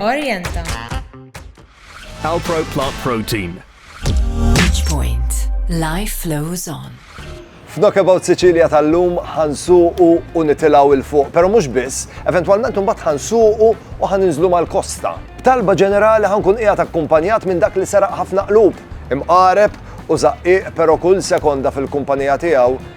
Orienta. Alpro Plant Protein. Each point, life flows on. F'Knockabout Sicilia tal-lum ħansuqu u nitilaw il-fuq, pero mux biss, eventualment unbat ħansuqu u ħaninżlu mal-kosta. B'talba ġenerali ħankun qiegħed akkumpanjat minn dak li seraq ħafna qlub, imqareb u zaqqiq pero kull sekonda fil-kumpanija tiegħu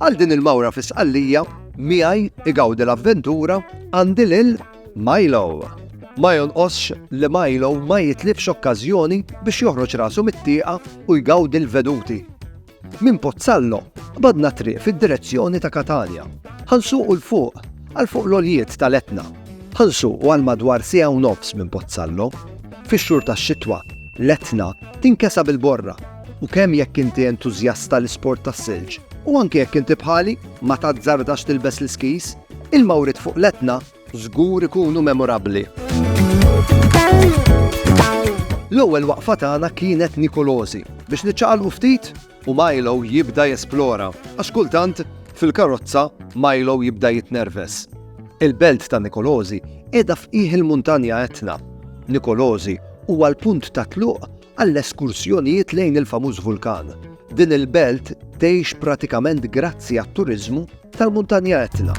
Għal din il-mawra fi sqallija, miegħi igawdi l-avventura għandi lil Milo. Ma jonqosx li Milo ma jitlifx okkażjoni biex joħroġ rasu mit-tieqa u jgawdi l-veduti. Minn Pozzallo qbadna t-triq fid-direzzjoni ta' Catania. Ħa nsuqu 'l fuq, għal fuq l-għoljiet tal-Etna. Ħa nsuqu għal madwar siegħa u nofs minn Pozzallo. Fix-xhur tax-xitwa, l-Etna tinkesa bil-borra, u kemm jekk inti entużjast tal-isport tas-silġ, u anki jekk inti bħali ma tazzardax tilbes l-iskis, il-mawriet fuq l-Etna Żgur ikunu memorabbli. L-ewwel waqfa tagħna kienet Nikolosi biex niċċaqalqu ftit u Milo jibda jesplora għax kultant fil-karozza Milo jibda jitnerves. Il-belt ta' Nikolosi qiegħda f'qiegħ il-Muntanja Etna. Nikolosi huwa l-punt ta' tluq għall-eskursjonijiet lejn il-famuż vulkan. Din il-belt tgħix pratikament grazzi għat-turiżmu tal-Muntanja Etna.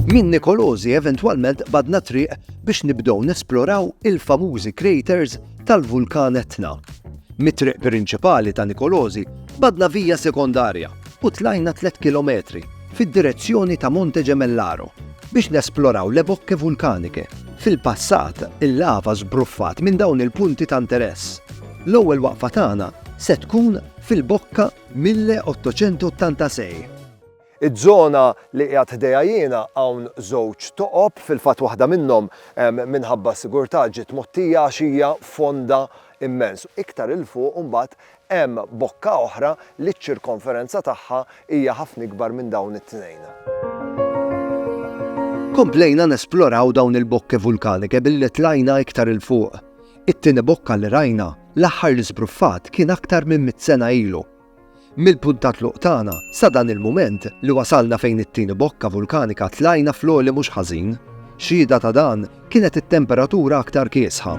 Minn Nikolosi eventwalment badna triq biex nibdew nesploraw il-famużi craters tal-vulkan Etna. Mit-triq prinċipali ta' Nikolosi badna vija sekondarja u tlajna 3 km fid-direzzjoni ta' Monte Gemellaro biex nesploraw le bocche vulcaniche. Fil-passat, il-lava żbruffat minn dawn il-punti ta' interess. L-ewwel waqfa tagħna se tkun fil-bocca 1886. Iż-żona li qiegħed ħdejha jiena hawn żewġ toqob, fil-fatt waħda minnhom minħabba s-sigurtà ġiet mgħottija għax hija fonda immens. Iktar 'il fuq imbagħad Hemm bokka oħra li ċ-ċirkonferenza tagħha hija ħafna ikbar minn dawn it-tnejn. Komplejna nesploraw dawn il-bokke vulkanike billi tlajna iktar 'il fuq. It-tieni bokka li rajna, l-aħħar li żbruffat kien aktar minn mitt sena ilu. Mill-punt ta' tluq tagħna sa dan il-mument li wasalna fejn it-tieni bokka vulkanika tlajna fl-għoli mhux ħażin. Xhieda ta' dan Kienet it-temperatura aktar kiesħa.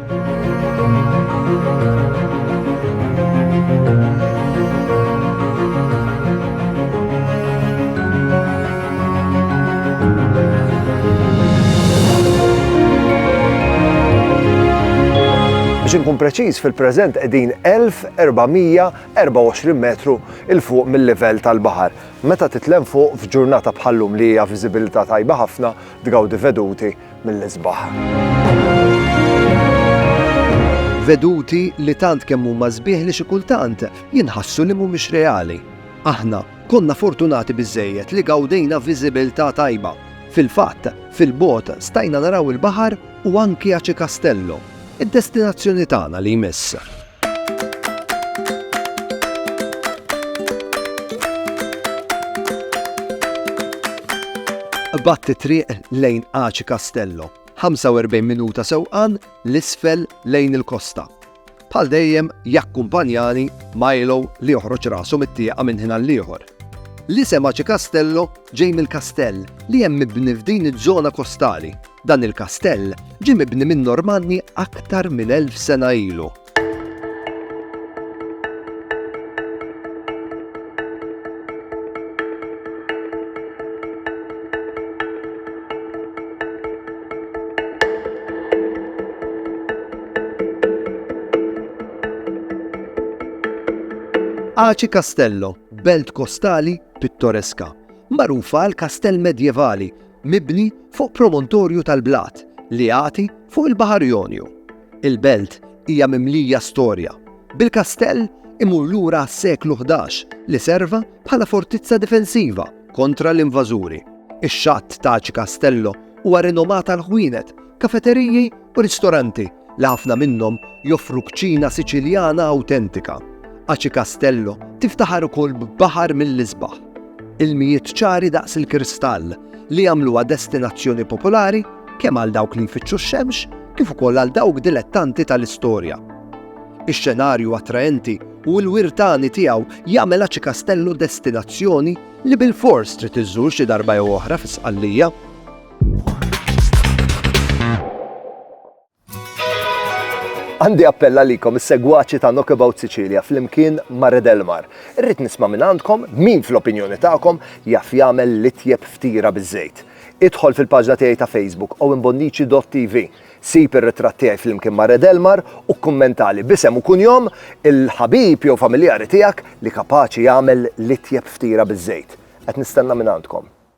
Biex inkun preċiż fil-preżent qegħdin 1424 metru il fuq mill-livell tal-baħar. Meta titlem fuq f'ġurnata bħallum li hija viżibilità tajba ħafna tgawdi veduti mill-isbaħ. Veduti li tant kemm huma sbieħ li xi kultant jinħassu li mhumiex reali. Aħna konna fortunati biżejjed li gawdejna viżibilità tajba. Fil-fatt, fil-bot stajna naraw il-baħar u anki Aci Castello, id-destinazzjoni tagħna li jmiss. Qbadt it-triq lejn Aci Castello, 45 minuta sewqan 'l isfel lejn il-kosta. Bħal dejjem jakkumpanjani Milo li joħroġ rasu mit-tieqa minn ħin għall-ieħor. L-isem Aci Castello ġej mill-kastell li hemm mibni f'din iż-żona kostali. Dan il-kastell ġie mibni min-Normanni aktar minn elf sena ilu. Aci Castello, belt kostali pittoreska, magħrufa għal kastell medjevali mibni fuq promontorju tal-blat li jagħti fuq il-Baħar Jonju. Il-belt hija mimlija storja, bil-kastell imur lura għas-seklu ħdax li serva bħala fortizza difensiva kontra l-invażuri. Ix-xatt ta' Aci Castello huwa rinomat għall-ħwienet Kafeteriji u ristoranti li ħafna minnhom joffru kċina Siċiljana awtentika. Aci Castello tiftaħar ukoll b'baħar mill-isbaħ. Ilmijiet ċari daqs il-kristall li jagħmluha destinazzjoni popolari kemm għal dawk li jfittxu x-xemx kif ukoll għal dawk dilettanti tal-istorja. Ix-xenarju attraenti u l-wirtani tiegħu jagħmel Aċi Kastellu destinazzjoni li bil-fors trid iżżur xi darba jew oħra fis-Sqallija. Għandi appell għalikom is-segwaċi ta' Knockabout Sicilia fl-imkien ma' Red Elmar. Irrid nisma' minn għandkom min fl-opinjoni tagħkom jaf jagħmel l-itjeb ftira biż-żejt. Idħol fil-paġna tiegħi ta' Facebook owenbonnici.tv. Sib ir-ritratt tiegħi fl-imkien ma' Red Elmar u kkummentali b'isem u kunjom il-ħabib jew familjari tiegħek li kapaċi jagħmel l-itjeb ftira biż-żejt. Qed nistenna minn għandkom.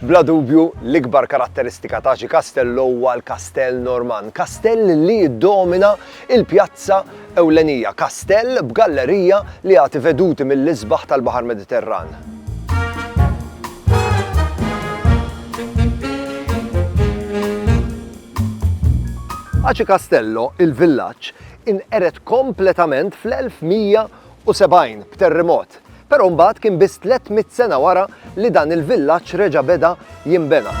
Bla dubju, l-ikbar karatteristika ta' xi kastell huwa l-kastell Normann, kastell li jiddomina l-pjazza ewlenija, kastell b'gallerija li jagħti veduti mill-isbaħ tal-Baħar Mediterran. Aci Castello, il-villaġġ, inqered kompletament fl-1100 1972 b'terrimot, però mbagħad kien biss tlett mitt sena wara li dan il-villaġġ reġa' beda jinbena.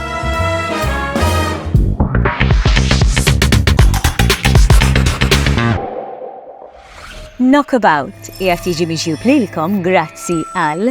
Knockabout qiegħed jiġi miġjub lilkom grazzi għal.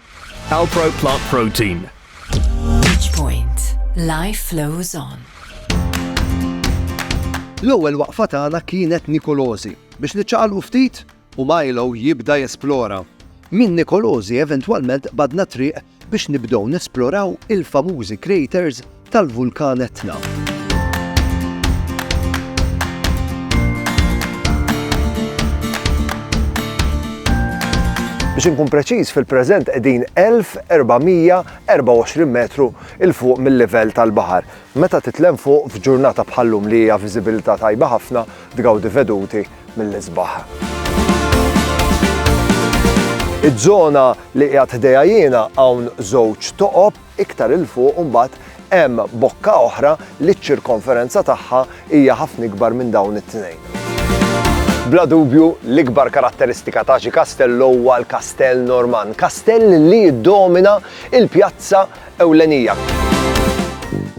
Alpro Plant Protein. Each point. Life flows on. L-ewwel waqfa tagħna kienet Nikolożi. Biex niċċaqalqu ftit u Milo jibda jesplora. Minn Nikolożi eventwalment badna triq biex nibdew nesploraw il-famużi craters tal-Vulkan Etna. Biex inkun preċiż, fil-preżent qegħdin 1424 metru il fuq mill-livell tal-baħar. Meta titlem fuq f'ġurnata bħallum li hija viżibilità tajba ħafna tgawdi veduti mill-isbaħ. Iż-żona li qiegħed ħdejja jiena hawn żewġ toqob Iktar 'il fuq imbagħad hemm bokka oħra li ċ-ċirkonferenza tagħha hija ħafna ikbar minn dawn it-tnejn. Bla dubju, l-ikbar karatteristika ta' xi kastell huwa l-kastell Normann, kastell li jiddomina l-pjazza ewlenija.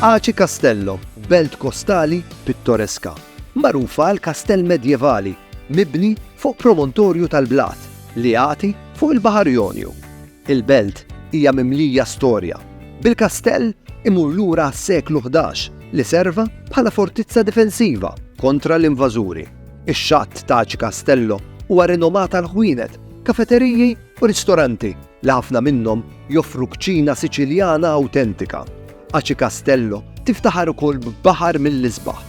Aci Castello, belt kostali pittoreska, magħrufa għal kastell medjevali mibni fuq promontorju tal-blat li jagħti fuq il-Baħar Jonju. Il-belt hija mimlija storja, bil-kastell imur lura għas-seklu ħdax li serva bħala fortizza difensiva kontra l-invażuri. Ix-xatt ta' Aci Castello huwa rinomat għall-ħwienet, kafeteriji u ristoranti li ħafna minnhom joffru kċina Siċiljana awtentika. Aci Castello tiftaħar ukoll b'baħar mill-isbaħ.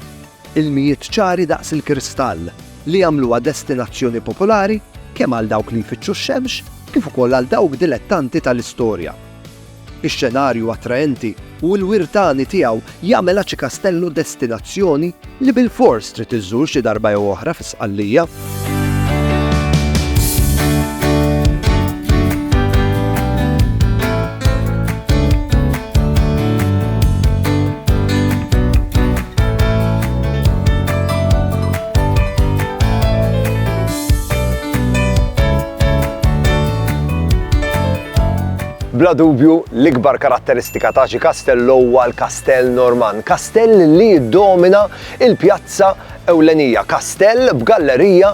Ilmijiet ċari daqs il-kristall, li jagħmluha destinazzjoni popolari kemm għal dawk li jfittxu x-xemx kif ukoll għal dawk dilettanti tal-istorja. Ix-xenarju attraenti u l-wirt għani tiegħu jagħmel Aci Castello destinazzjoni li bilfors trid iżżur xi darba jew oħra fi Sqallija. Bla dubju, l-ikbar karatteristika ta' xi kastell huwa l-kastell Norman, kastell li jiddomina il-pjazza ewlenija, kastell b'gallerija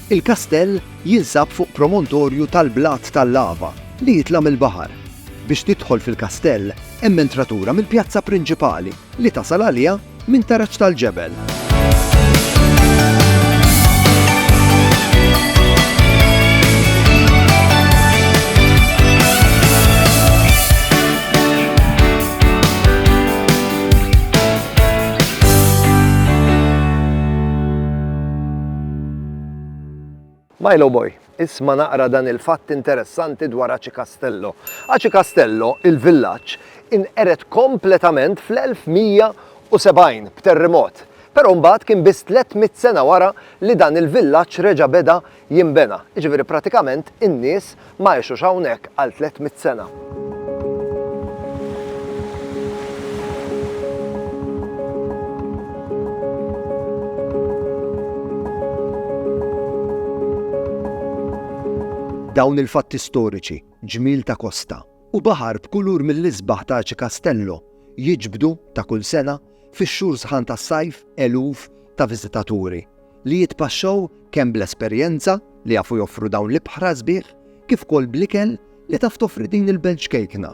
Il-kastell jinsab fuq promontorju tal-blat tal-lava li jitla' mill-baħar. Biex tidħol fil-kastell hemm entratura mill-pjazza prinċipali li tasal għaliha minn taraġ tal-ġebel. Milo Boy, isma' naqra dan il-fatt interessanti dwar Aci Castello. Aci Castello, il-villaġġ, inqered kompletament fl-1170 b'terrimot, però mbagħad kien biss tlett mitt sena wara li dan il-villaġġ reġa' beda jinbena, jiġifieri pratikament in-nies ma għexux hawnhekk għal tliet mitt sena. Dawn il-fatti storiċi, ġmiel ta' kosta u baħar b'kulur mill-isbaħ ta' Aci Castello jiġbdu, ta' kull sena, Fix-xhur sħan tas-sajf eluf ta' viżitaturi li jitpaxxaw kemm bl-esperjenza li jafu joffru dawn l-ibħra sbieħ kif ukoll bl-ikel li taf toffri din il-belt ċkejkna.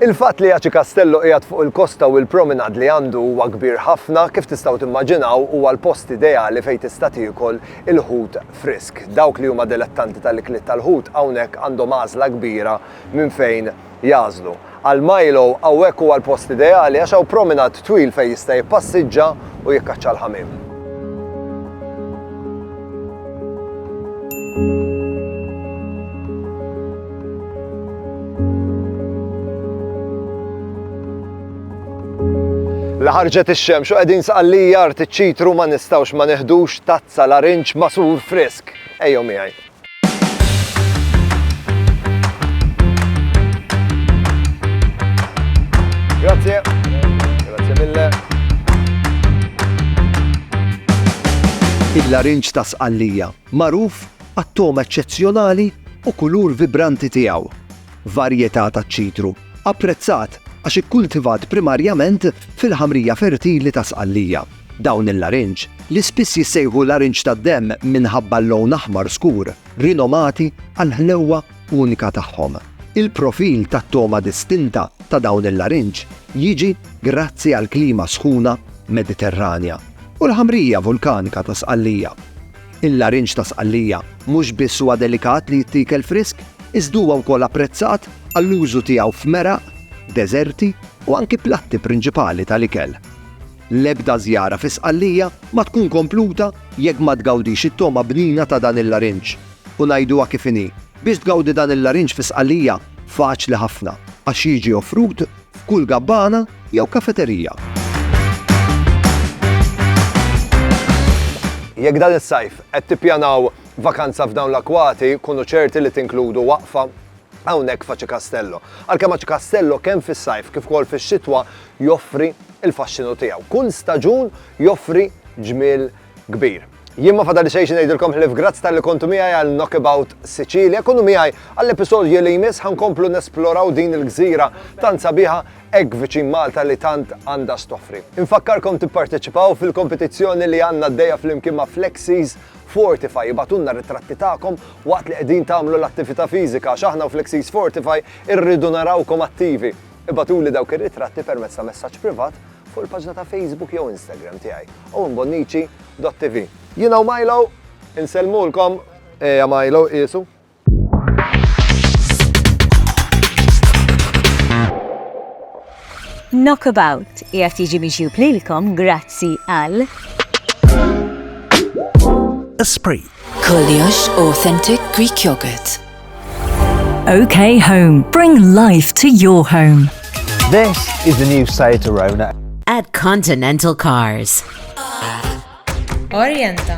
Il-fatt li Aci Castello qiegħed fuq il-kosta u l-promenade li għandu huwa kbir ħafna, kif tistgħu timmaġinaw huwa l-post ideali fejn tista' tiekol il-ħut frisk. Dawk li huma delettanti tal-ikliet tal-ħut hawnhekk għandhom għażla kbira minn fejn jagħżlu. Għal Milo hawnhekk huwa l-post ideali għax hawn promenade twil fejn jista' jippassiġġa u jikkaċċa l-ħamiem. La ħarġet ix-xemx u qegħdin saqallija art iċ-ċitru ma nistgħux ma neħdux tazza larinġ masur frisk. Ejjew miegħi. Grazie. Grazie mille. Il-larinġ ta' sqallija, magħruf għat-tom eċċezzjonali u kulur vibranti tiegħu. Varjetà ta' ċitru, apprezzat għax ikkultivat primarjament fil-ħamrija fertili ta' sqallija. Dawn il-larinġ, li spiss jissejħu larinġ tad-demm minħabba l-lown aħmar skur, rinomati għall-ħlewwa unika tagħhom. Il-profil tat-togħma distinta ta' dawn il-larinġ jiġi grazzi għall-klima sħuna Mediterranja u l-ħamrija vulkanika ta' Sqallija. Il-larinġ ta' Sqallija mhux biss huwa delikat li jittiekel frisk, iżda huwa wkoll apprezzat għall-użu tiegħu f'meraq, deżerti u anki platti prinċipali tal-ikel. L-ebda żjara fi Sqallija ma tkun kompluta jekk ma tgawdix it-togħma bnina ta' dan il-larinġ. U ngħiduha kif inhi, biex tgawdi dan il-larinġ fi Sqallija faċli ħafna, għax jiġi offrut f'kull gabbana jew kafeterija. Jekk dan is-sajf qed tippjanaw vakanza f'dawn l-akwati, kunu ċerti li tinkludu waqfa hawnhekk f'Aci Castello. Għalkemm Aci Castello kemm fis-sajf kif ukoll fix-xitwa joffri l-faxxinu tiegħu. Kull staġun joffri ġmiel kbir. Jien ma fadalli xejn xi ngħidilkom ħlief grazzi talli kontu miegħi għal Knockabout Sicilia. Kunu miegħi għall-episodju li jmiss ħankomplu nesploraw din il-gżira tant sabiħa hekk viċin Malta li tant għandha stoffri. Infakkarkom tipparteċipaw fil-kompetizzjoni li għandna għaddejja flimkien ma' Flexies Fortify ibagħtulna r-ritratti tagħkom waqt li qegħdin tagħmlu l-attività fiżika għax aħna u Flexies Fortify irridu narawkom attivi. Ibagħtuli dawk ir-ritratti permezz ta' messaġġ privat fuq il-paġna ta' Facebook jew Instagram tiegħi, owenbonnici.tv. Jiena u Milo insellmulkom. Ejja Milo, qiesu. Knockabout qiegħed jiġi miġjub lilkom grazzi għal Esprit. Koljox Authentic Greek Yogurt. OK Home. Bring life to your home. This is the new Seat Arona. At Continental Cars. Orienta.